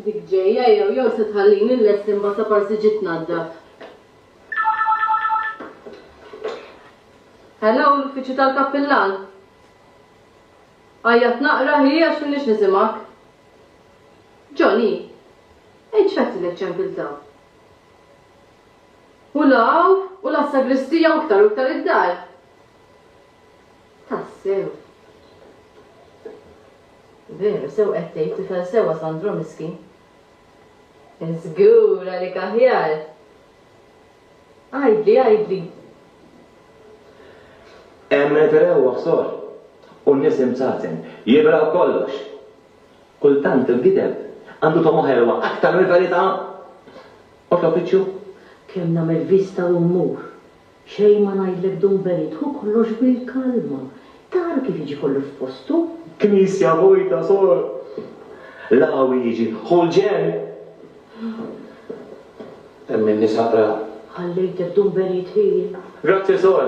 Dik ġejja jew jew se tħallini l-lest imbagħad ta' parsi ġiet nadda. Hello, l-uffiċċju tal-kappillan. Għajjat naqra hi għax minix nisimak. Johnny, ejċ fatti l-ċempil ta' U 'l hawn u 'l għas-sagristija u iktar u iktar id-dar. Tassew. Veru, sew qed tgħid, tifel sewwa Sandro miskin. Żgur għalik aħjar. Għidli, għidli. Hemm it-trewwa sor, u n-nies imsaten, jibraw kollox. Kultant il-gideb għandu togħma ħelwa aktar mill-verità. Otopiċu, Kemm nagħmel vista u mmur. Xejn ma ngħidlek dum benit, ħu kollox bil-kalma. Tara kif jiġi kollu f'postu? Knisja vojta, sor. L-qawwi jiġi, ħu l-ġenn. Hemm in-nisa qra. Ħallejtek dum benit ħin. Grazzi, sor.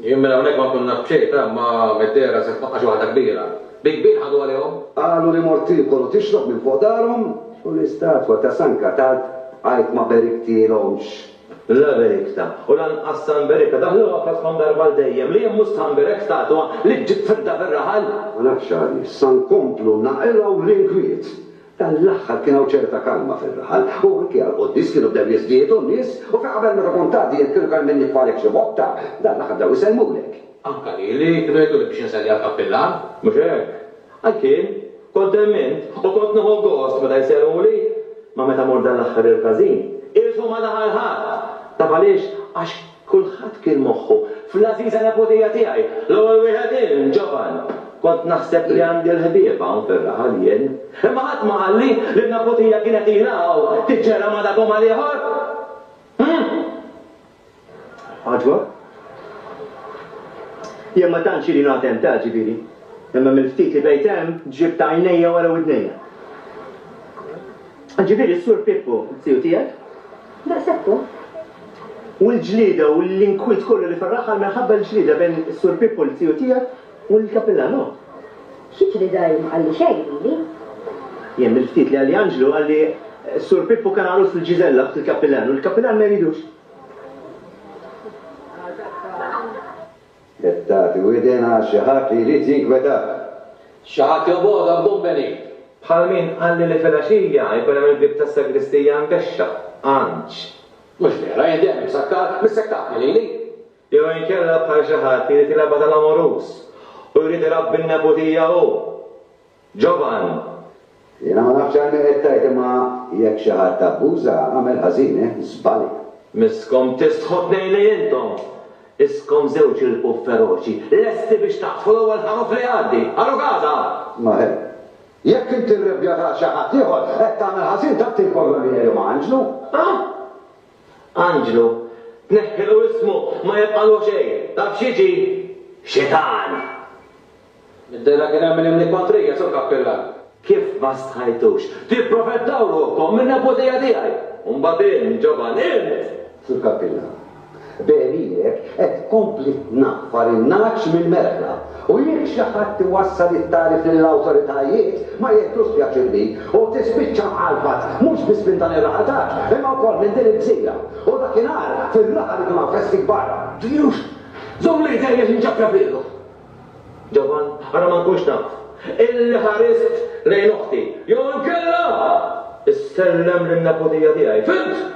Jien minn hawnhekk ma nkun naf b'xejn, f'Għamma mid-dehra se tfaqqax waħda kbira. Bi kbir ħadu għalihom! Qalu li mort tiekol u tixrob minn fuq darhom u l-istatwa ta' San Katat għid ma beriktilhomx. La berikta u lanqas San Berika daħluha f'għaddkom darba għal dejjem, li jien mhux San Berek statwa li ġġib fidda fir-raħal! Ma nafx għaliex sa nkomplu naqilgħu l-inkwiet Dan l-aħħar kien hawn ċerta kalma fir-raħal, u anki għall-quddies kienu bdew jiżdiedu n-nies, u fi qabel meta kont tgħaddi jekk kienu kellmin jitfagħlek xi botta, dan l-aħħar bdew isellmulek. Anke lili kienu jgħiduli biex inselli għall-kappillan, mhux hekk? Għalkemm, kont hemm int, u kont nieħu gost meta jsellmuli, ma meta mmur dan l-aħħar il-każin, qishom ma daħal ħadd! Taf għaliex? Għax Kulħadd kien moħħu fl-għażiża nepotiha tiegħi, l-ewwel wieħed jien, Ġovan. Kont naħseb li għandi l-ħbieb hawn fir-raħal jien. Imma ħadd ma qalli li n-nepotija kienet ilha hawn tiġġera ma' dak u ma' l-ieħor. Hm! Għaġbok? Jien ma tantx ili noqgħod hemm ta', ġifieri, imma mill-ftit li bqejt hemm ġibt għajnejja wara widnejja. Ġifieri s-Sur Pippo, it-tiju tiegħek? Daqshekk hu. U l-ġlieda u l-inkwiet kollu li fir-raħal minħabba l-ġlieda bejn is-Sur Pippo, l-tiju tiegħek, u l-Kappillan, hu? Xi ġlieda hi? Ma qalli xejn lili. Jien mill-ftit li qalli Anġlu, qalli s-Sur Pippo kien għarus lil Ġiżella, oħt il-Kappillan, u l-Kappillan ma jridux. Qed tagħti widen għal xi ħadd li jrid jinkwetak. Xi ħadd jobogħod għal Dun Benign. Bħal min qalli li filgħaxija jkun hemm il-bieb tas-sagristija mkexxaf, għandx. Mhux vera, jien dejjem imsakkar, missekkatni lili. Jew inkella bħal xi ħadd li jrid jilgħabha tal-amoruż u jrid irabbi n-neputija hu. Ġovan, Jiena ma nafx għalmi qed tgħid imma jekk xi ħadd abbuża, għamel ħażin, eh, żbalja. Miskom tistħu tnejn li intom! Iskom żewġ ilpuh feroċi, lesti biex taqdħu l-ewwel ħaruf li jgħaddi! Ara Gaza! Ma he. Jekk inti rrebbjat għal xi ħadd ieħor, qed tagħmel ħażin tant il-korba li jgħidu ma' Anġlu! Ah! Anġlu, tneħħilu ismu, ma jibqagħlu xejn! Taf x'jiġi? Xitan! Niddera kien għamel imni kontrija, Sur Kappillan. Kif ma stħajtux? Tipprofetaw ruħkom min-neputija tiegħi! U mbagħad int, Ġovan, int! Sur Kappillan. B'għerirek qed tkompli tnaffar in-nagħaġ mill-merħla. U jekk xi ħadd iwassal it-tagħrif lill-awtoritajiet, ma jieħdux pjaċir bih. U tispiċċa mqalfat, mhux biss minn dan ir-raħal taġ, imma wkoll minn din il-gżira. U dakinhar, fir-raħal ikun hawn festi kbar. Ġliewx! Żomm lejtejn għax inċappja f'riegħu! Ġovan, ara ma nkunx naf illi ħarist lejn oħti jew inkella issellem lin-neputija tiegħi, fhimt?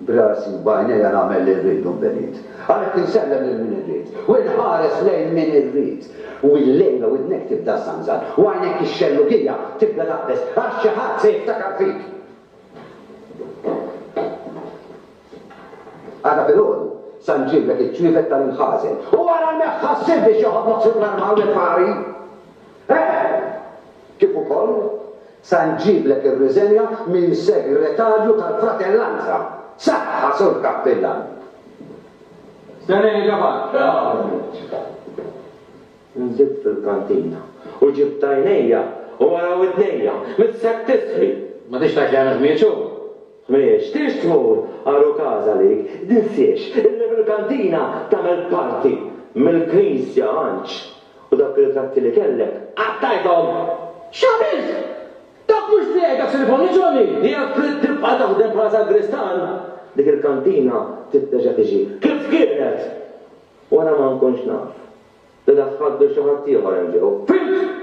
B'rasi u b'għajnejja nagħmel li rrid u nbegħid. Għalhekk insellem lil min irrid u nħares lejn min irrid. U illejla widnek tibda żżanżan u għajnek ix-xellugija tibda taqbeż għax xi ħadd se jiftakar fik. Għad ta' filgħodu, San Ġim b'hekk iċ-ċwievet tal-imħażen. U ara neħħa s-silf biex joħodlok fuq l-armaw lil Ħari! Eħe! Kif ukoll, San Ġim b'hekk irriżenja minn Segretarju tal-Fratellanza! Saħħa, Sur Kappillan! Se nerġa' barra, ovvjament. Nżilt fil-kantina u ġibt għajnejja u wara widnejja, missek tisħi! Ma tridx tgħid li għandek miegħed xogħol? M'ixtieqx tmur għar u każ għalik, tinsiex illi fil-kantina tagħmel parti mill-Knisja għandx u dawk ir-ritratti li kellek qattajthom! X'għamilt? Dak mhux tiegħi dak se niforniċholi! Jekk trid tibqa' taħdem bħala sagristan, dik il-kantina trid terġa' tiġi kif kienet! Wara ma nkunx naf li daħħalt lil xi ħaddieħor hemm ġew, fhimt?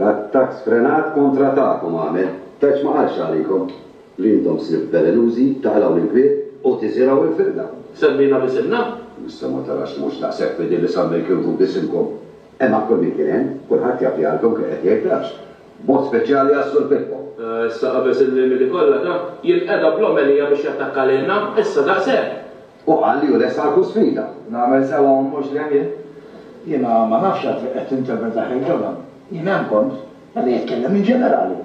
Attakk sfrenat kontra tagħkom għamel. Tgħidx ma qalx għalikom li intom slib velenużi, taqlgħu l-inkwiet u tiżirgħu l-firda. Semmina b'isimna? Issa ma tarax li mhux daqshekk fidil li sammi l-kirvu b'isimkom? Hemm għal kull min kien hemm, kulħadd jaf li għalkom kien qed jgħid l-għaġġ. B'mod speċjali għas-Sur Pippo. Issa qabeż il-limiti kollha ta, jilqeda bl-omelija biex jattakka lilna? Issa daqshekk? Hu qal li hu lest għal kull sfida. Nagħmel sewwa u mhux żejjed jien? Jiena ma nafx għad fejn qed tinterpreta ħin ġo dan. Jien hemm kont. Qed nitkellem in ġenerali.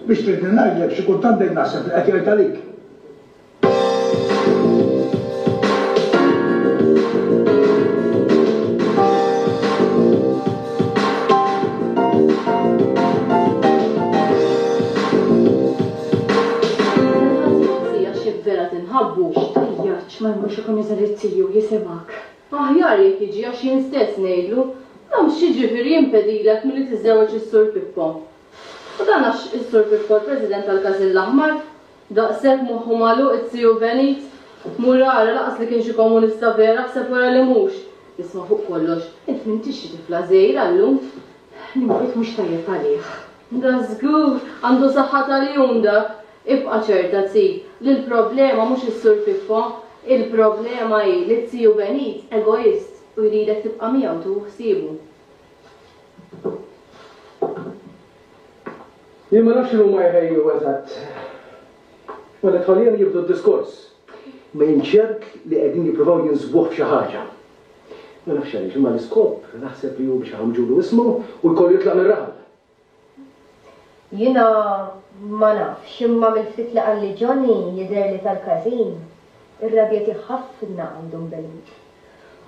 Biex tridni ngħidlek xi kultant bdejt naħseb li qed jgħid għalik. Ħabbu, x'tħejjartx ma jmurx ikun iżgħar li tiju jisimgħek. Aħjar jekk jiġi għax jien stess ngħidlu, Għax x'jiġifieri jimpedilek milli tiżżewweġ is-Sur Pippo? U dan għax is-Sur Pippo l-President tal-Każin l-Aħmar? Daqshekk moħħu magħluq it-tiju Benit? Mur ara lanqas li kien xi komunista vera aħseb wara li mhux. Isma' fuq kollox, int m'intix xi tifla żgħira llum. L-inkwit mhux tajjeb għalih. Da żgur għandu saħħa ta' lijun dak! Ibqa' ċerta, Zì, li l-problema mhux is-Sur Piffo. Il-problema hi li t-Ziju Benit egoist u jridek tibqa' miegħu tieħu ħsiebu. Jien ma nafx x'inhuma jħejju eżatt. Meta tħallihom jibdu d-diskors, Ma jien ċert li qegħdin jippruvaw jinsbuh f'xi ħaġa. Ma nafx għaliex, imma l-iskop naħseb li hu biex iħammġulu ismu u jkollu jitlaq mir-raħal. Jiena ma nafx, imma mill-ftit li qalli Johnny jidher li tal-każin ir-rabja tiegħu ħafna għandhom b'Elin.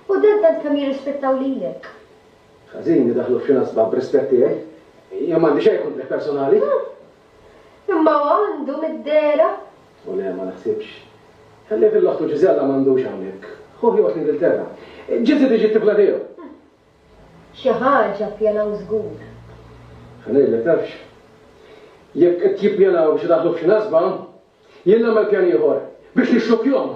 U dan tant kemm jirrispettaw lilek. Każin idaħħlu f'xi nasba b'rispett tiegħi. Jien m'għandi xejn kontrih personali. Imma hu għandu mid-dehra? O le, ma naħsibx. Ħallih fil-loħtu Ġiżella m'għandux hawnhekk. Ħuh joqgħod l-Ingilterra. Ġiżi tiġi t-tifla tiegħu. Xi ħaġa ppjanaw żgur. Ħa ngħidlek tafx? Jekk qed jippjanaw biex idaħħluh f'xi nasba, jien nagħmel pjan ieħor, biex nixxukkjuhom.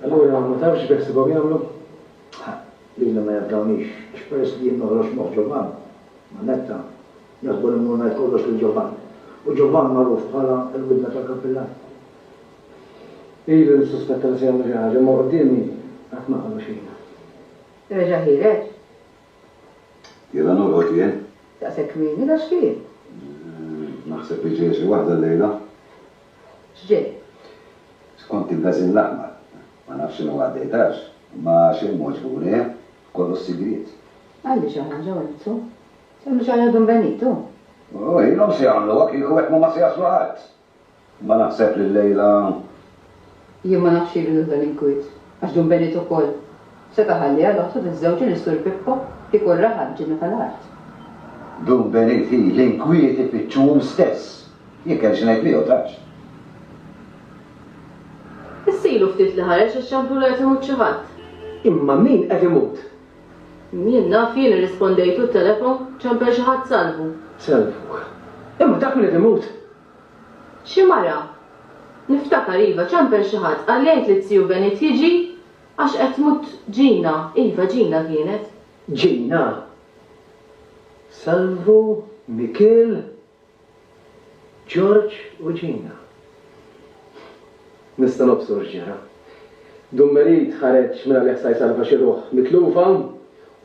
Allura ma tafx x'beħsibhom jagħmlu? Ħa, lili ma jafdawnix, għax peress li jien noħroġ moħħ Ġovann, Mannetta, jaħsbu li mmur ngħid kollox lil Ġovann. U Ġovann magħruf bħala l-widna tal-kappillan. Ilu nissuspetta li se jagħmlu xi ħaġa, imma quddiemi qatt ma qalu xejn. Reġa' ħiereġ? Ilha norqod jien. Daqshekk kmieni? Għax kien? Naħseb li ġejja xi waħda llejla. X'ġej? Skont il-Gażin l-Aħmar, ma nafx x'inhu għaddej tarx, imma xejn m'għoġbu, le, kollu s-sigriet. Għandi xi ħaġa Wenzu. Se mhux għalija Dun Benitu? U ilhom se jagħmluha kieku hekk m'huma se jaslu ħadd. Imma naħseb li llejla. Jien ma nafx ilu lil dan il-kwiet, għax Dun Benito wkoll seta' ħalli għal oħtu tiżżewġ u li s-Sur Pippo kieku raha l-ġinna tal-art. Dun Benit hi l-inkwiet ifittxuhom stess. Jien kelli xi ngħid miegħu, tafx. Issa ilu ftit li ħareġ għax ċamplu li qed imut xi ħadd. Imma min qed imut? Min naf jien, irrispondejtu t-telefon, ċampel xi ħadd Salvu. Salvu. Imma taf min qed imut? Xi mara, niftakar, iva, ċampel xi ħadd, qalli għid liz-ziju Benit jiġi għax qed tmut Ġina, iva, Ġina kienet. Ġina? Salvu, Mikiel, Ġorġ u Ġina. Nista' nobsor x'ġara. Dun Merid ħareġ mela li jasta' jsalva xi ruħ mitlufa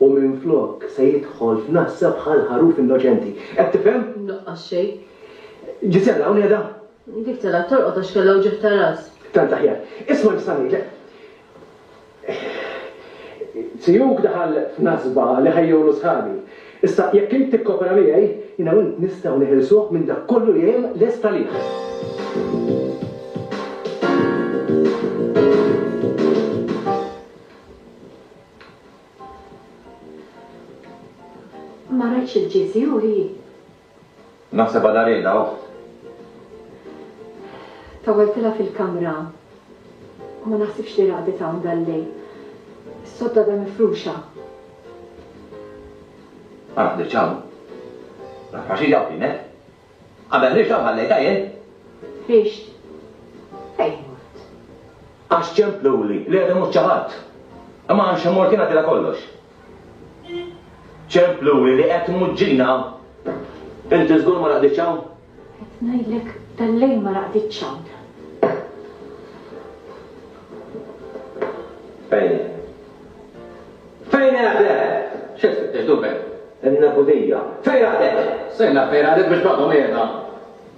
u minflok se jidħol f'nassa bħal ħaruf innoċenti. Qed tifhem? Mnuqqas xejn. Ġisella, hawn qiegħda? Dik telgħet torqod għax kellha wġigħ ta' ras. Tant aħjar. Isma' nista' ngħidlek. Ziyuk daħal f'nasba li ħejjewlu sħabi. Issa, jekk int tikkopera miegħi, jiena u int nistgħu neħilsuh minn dak kollu li hemm lest għalih. Ma rajtx il-GZU hi? Naħsebha Dareda oħt. Tawwaltilha fil-kamra u ma naħsibx li raqdet hawn dal-lejl. Is-sodda għadha mifruxa. Ma raqditx hawn. Naf għax hi hawn kienet. Qabel ħriġt hawn ħallejtha jien. Ħriġt? Fejn mort? Għax ċempluli li għadhom mhux ċaħat. Imma għax immort jien ngħaddilha kollox. Ċemplu li qed tmuġġina. Inti żgur ma raqditx hawn? Qed ngħidlek tal-lejl ma raqditx hawn. Fejn hi? Fejn qegħdet? X'qed tfittex dubel? In-Nebudija. Fejn qegħdet? Sejna fejn qegħdet biex baqgħu qiegħda.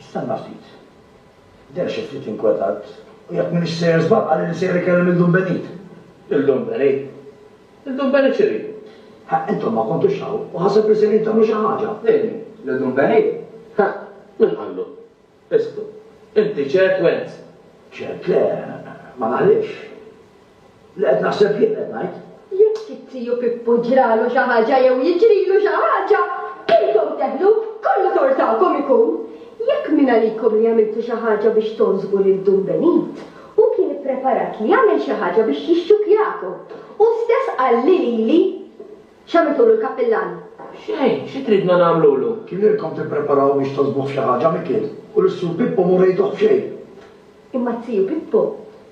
Istenna ftit. Deher xi ftit inkwetat u jekk m'iniex sejjer żball qalli li sejjer ikellem lil Dun Benit. Lil Dun Benit? Lil Dun Benit x'irid? Ħa intom ma kontux hawn u ħaseb li sejrin tagħmlu xi ħaġa. Lil min? Lil Dun Benit? Ħa min qallu? Isqtu. Inti ċert Wenz? Ċert le, ma naħlifx. Li qed naħseb jien qed ngħid. Jekk it-tiju Pippu ġralu xi ħaġa jew jiġrilu xi ħaġa, intom teħlu, kollu tort tagħkom ikun. Jekk min għalikom li għamiltu xi ħaġa biex togħżbu lil Dun Benit, hu kien ippreparat li jagħmel xi ħaġa biex jixxukjakom, hu stess qal lili, X'għamiltulu l-Kappillan? Xejn, xi tridna nagħmlulu? Kienieilkom tippreparaw biex togħżbuh f'xi ħaġa, Mikiel, u lis-Sur Pippu m'urejtuh f'xejn. Imma t-tiju Pippu.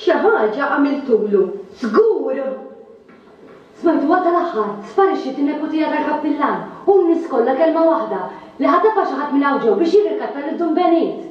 Xi ħaġa għamiltulu, żgur! Smajtuha tal-aħħar, sparixxiet in-neputija tal-kappillan, u n-nies kollha kelma waħda, li ħatafha xi ħadd minn hawn ġew biex jirrikatta lil Dun Benit!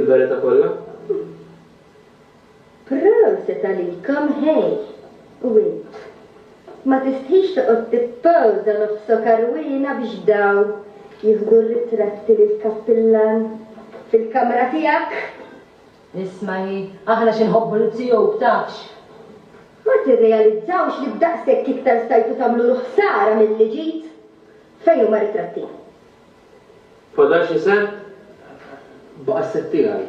Il-verità kollha? Proset għalikom ħej! U int? Ma tistħix toqgħod tippowża nofsok għarwiena biex dawn jieħdu r-ritratti lill-kappillan fil-kamra tiegħek? Isma' hi, aħna xi nħobbu l-Ttiope tafx! Ma tirrealizzawx li b'daqshekk iktar stajtu tagħmlulu ħsara milli ġid? Fejn huma ritratti? Fadal xi sett baqa' s-sett tiegħi.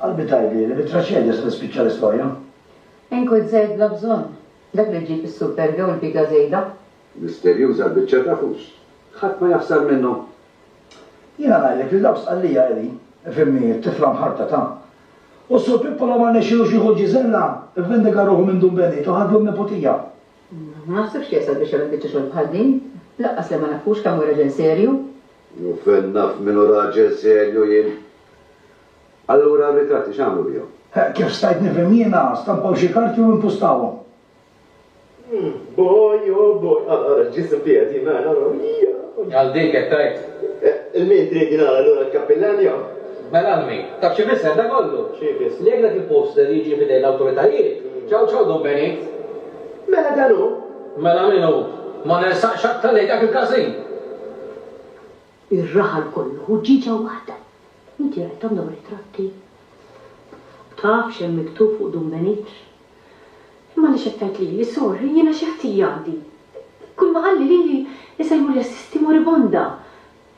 Qalbi tgħidli li bit-traċedja se tispiċċa l-istorja. Inkwiet żejt bla bżonn, dak li ġġib is-super jew il-piga żejda. Misterjuża l-biċċa ta' fus, ħadd ma jaħsar minnhom. Jiena ngħidlek li dawn Sqallija qegħdin, ifhimni, it-tifla mħarbta ta'. U s-Sur Pippo law ma rnexxielux jieħu l-ġiżella, ivvendiga ruħu minn Dun Benito, ħadlu n-neputija. Ma naħsibx li jasal biex jagħmel biċċa xogħol bħal din. Lanqas li ma nafux kemm hu raġel serju. U fejn naf min hu raġel serju jien? Allura r-ritratti x'għamlu bihom? Kif stajt nifhem jiena, stampaw xi karti u impustawhom. Boj, o boj! Ara, ara l-ġisem tiegħi qed jingħajjar, ara, ija! Għal dik qed tgħid? Il-min trid jingħala lura l-kappillan jew? Mela l-min? Taf x'ifisser dan kollu? X'ifisser? Li jekk dak il-poster jiġi f'idejn l-awtoritajiet, ċaw ċaw dun benit. Mela dan hu? Mela min hu? Ma nersaqx aktar lejn dak il-każin! Ir-raħal kollu hu ġieġa waħda! Inti qrajthom dawn ir-ritratti? Taf x'hemm miktub fuq dun benit? Imma għaliex qed tgħid lili, sorry, jiena xi ħtija għandi? Kulma qalli lili isejmuli assisti moribonda!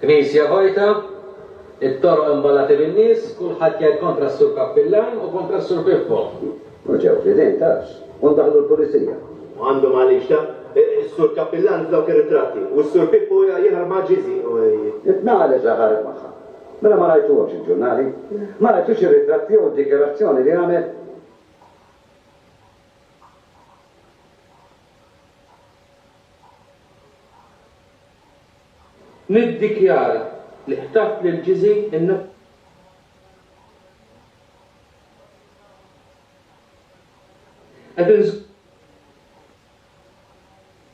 Knisja vojta, it-toroq imballati bin-nies, kulħadd jgħid kontra s-Sur Kappillan u kontra s-Sur Pippo. U ġew fl-idejn tax. U ndaħħlu l-Pulizija. Għandhom għaliex, ta? Is-Sur Kappillan f'dawk ir-ritratti, u s-Sur Pippo jaħrab ma' Ġiżi, u. Tnaqa' li ġa ħareb magħha. Mela ma rajtuhomx il-ġurnali? Ma rajtux ir-ritratti jew id-dikjarazzjoni li għamel? Niddikjara li qtatt lil Ġiżi n. Qed inżomm.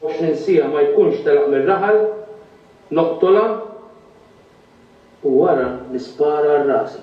24 siegħa ma jkunx telaq mir-raħal, noqtolha u wara nispara għal rasi.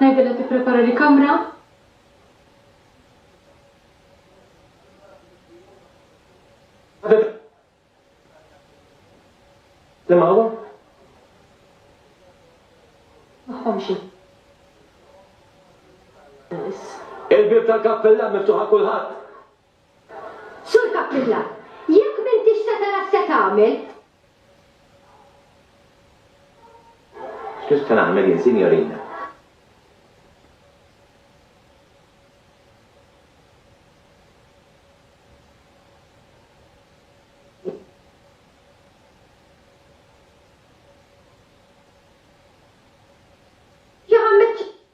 Ngħidilha tipprepara li kamra. Li ma huwa? Maħħomxi. Il-bib tal-kappella miftuħa kulħadd. Sur Cappilla, jekk m'intix se tara x'se tagħmel? X'se nagħmel jien, sinjorina?